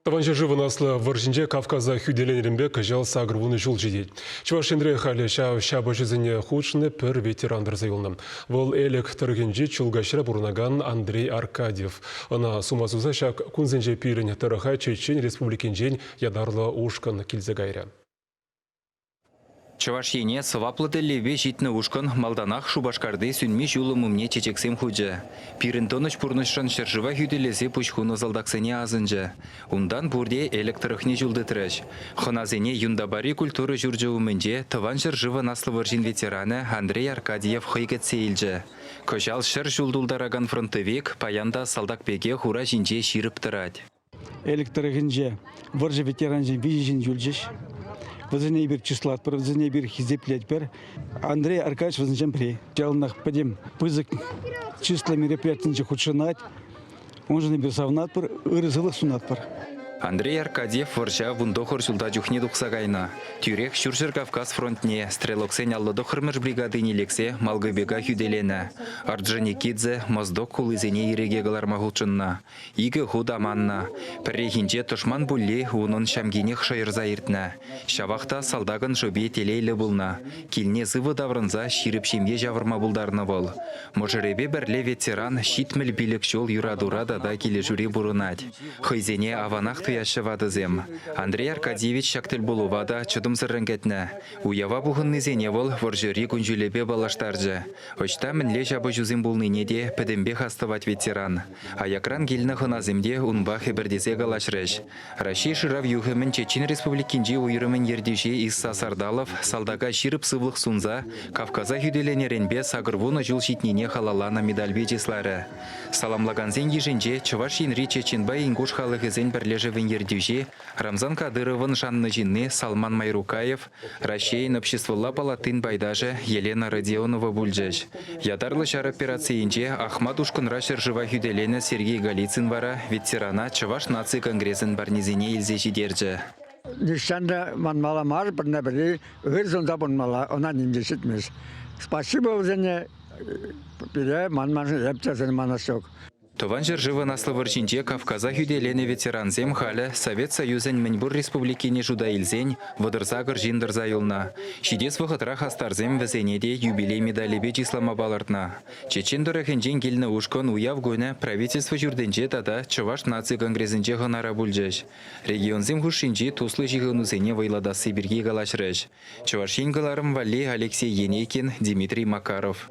Тӑван ҫӗршывӑн Аслӑ вӑрҫинче Кавказа хӳтӗленӗренпе кӑҫал сакӑр вунӑ ҫул ҫитет. Чӑваш Енре халӗ ҫав ҫапӑҫусене хутшӑннӑ пӗр ветеран тӑрса юлнӑ. Вӑл Элӗк тӑрӑхӗнчи Чулкаҫра пурӑнакан Андрей Аркадьев. Ӑна сума суса ҫак кунсенче пирӗн тӑрӑха Чечен Республикинчен ятарлӑ ушкӑн килсе кайрӗ. Чӑваш Ене сӑваплӑ тӗллевпе ҫитнӗ ушкӑн малтанах Шупашкарти сӳнми ҫулӑм умне чечексем хучӗ. Пирӗн тӑнӑҫ пурнӑҫшӑн ҫӗршыва хӳтӗлесе пуҫ хунӑ салтаксене асӑнчӗ. Унтан пурте Элӗк тӑрӑхне ҫул тытрӗҫ. Хӑнасене Юнтапари культура ҫурчӗ умӗнче Тӑван ҫӗршывӑн Аслӑ вӑрҫин ветеранӗ Андрей Аркадьев хӑй кӗтсе илчӗ. Кӑҫал ҫӗр ҫул тултаракан фронтовик паян та салтак пекех ура ҫинче ҫирӗп тӑрать. Элӗк тӑрӑхӗнче вӑрҫӑ ветеранӗсем виҫӗ ҫын юлчӗҫ. Вӗсене эпир чыслатпӑр, вӗсене эпир хисеплетпӗр. Андрей Аркадьевич вӗсенчен пӗри. Яланах пӗтӗм пысӑк чыслӑ мероприятинче хутшӑнать. Уншӑн эпир савӑнатпӑр, ырӑ сывлӑх сунатпӑр. Андрей Аркадьев вӑрҫа вун тӑхӑр ҫулта чухне тухса кайнӑ. Тӳрех Ҫурҫӗр-Кавказ фронтне стрелоксен аллӑ тӑххӑрмӗш бригадине лексе Малгобека хӳтӗленӗ. Орджоникидзе, Моздок хулисене ирӗке кӑларма хутшӑннӑ. Икӗ хут аманнӑ. Пӗррехинче тӑшман пулли унӑн ҫамкинех шӑйӑрса иртнӗ. Ҫавах та салтакӑн шӑпи телейлӗ пулнӑ. Килне сывӑ таврӑнса ҫирӗп ҫемье ҫавӑрма пултарнӑ вӑл. Мӑшӑрӗпе пӗрле ветеран ҫитмӗл пилӗк ҫул юратура тата килӗшӳре пурӑнать. Хӑйсене аванах туяҫҫӗ ватӑсем. Андрей Аркадьевич ҫак тӗлпулӑва та чӑтӑмсӑррӑн кӗтнӗ. Уява пухӑннисене вӑл вӑрҫӑри кун-ҫулӗпе паллаштарчӗ. Ӑҫта мӗнле ҫапӑҫусем пулнине те пӗтӗмпех астӑвать ветеран. Аякран килнӗ хӑнасем те унпа хӗпӗртесе калаҫрӗҫ. Раҫҫей шырав юхӑмӗн Чечен Республикинчи уйрӑмӗн ертӳҫи Исса Сардалов салтака ҫирӗп сывлӑх сунса Кавказа хӳтӗленӗренпе сакӑрвунӑ ҫул ҫитнине халалланӑ медальпе чысларӗ. Саламлакансен йышӗнче Чӑваш Енри Чеченпа Ингуш халӑхӗсен пӗрлешӗвӗн ертӳҫи Рамзан Кадыровӑн шаннӑ ҫынни Салман Майрукаев, Раҫҫейӗн Обществӑлла палатин пайташӗ Елена Родионова пулчӗҫ. Ятарлӑ ҫар операцийӗнче Ахмат ушкӑнра ҫӗршыва хӳтӗленӗ Сергей Голицын вара ветерана Чӑваш наци конгресӗн парнисене илсе ҫитерчӗ. Нихҫан та манмалла мар пӗрне-пӗри, ырсӑн та пулмалла, ӑна ним те ҫитмест. Спасибо вӗсене пире, манмашӑн эп те сӗн манас ҫук. Тӑван ҫӗршывӑн Аслӑ вӑрҫинче Кавказа хӳтӗленӗ ветерансем халӗ Совет Союзӗн мӗнпур республикине шута илсен вӑтӑр-сакӑр ҫын тӑрса юлнӑ. Ҫитес вӑхӑтра хастарсем вӗсене те юбилей медалӗпе чыслама палӑртнӑ. Чечен тӑрӑхӗнчен килнӗ ушкӑн уяв кунӗ Правительство ҫуртӗнче тата Чӑваш наци конгресӗнче хӑнара пулчӗҫ. Регионсем хушшинчи туслӑ ҫыхӑнусене вӑйлатасси пирки калаҫрӗҫ Чӑваш Ен кӑларӑм валли Алексей Енейкин, Дмитрий Макаров.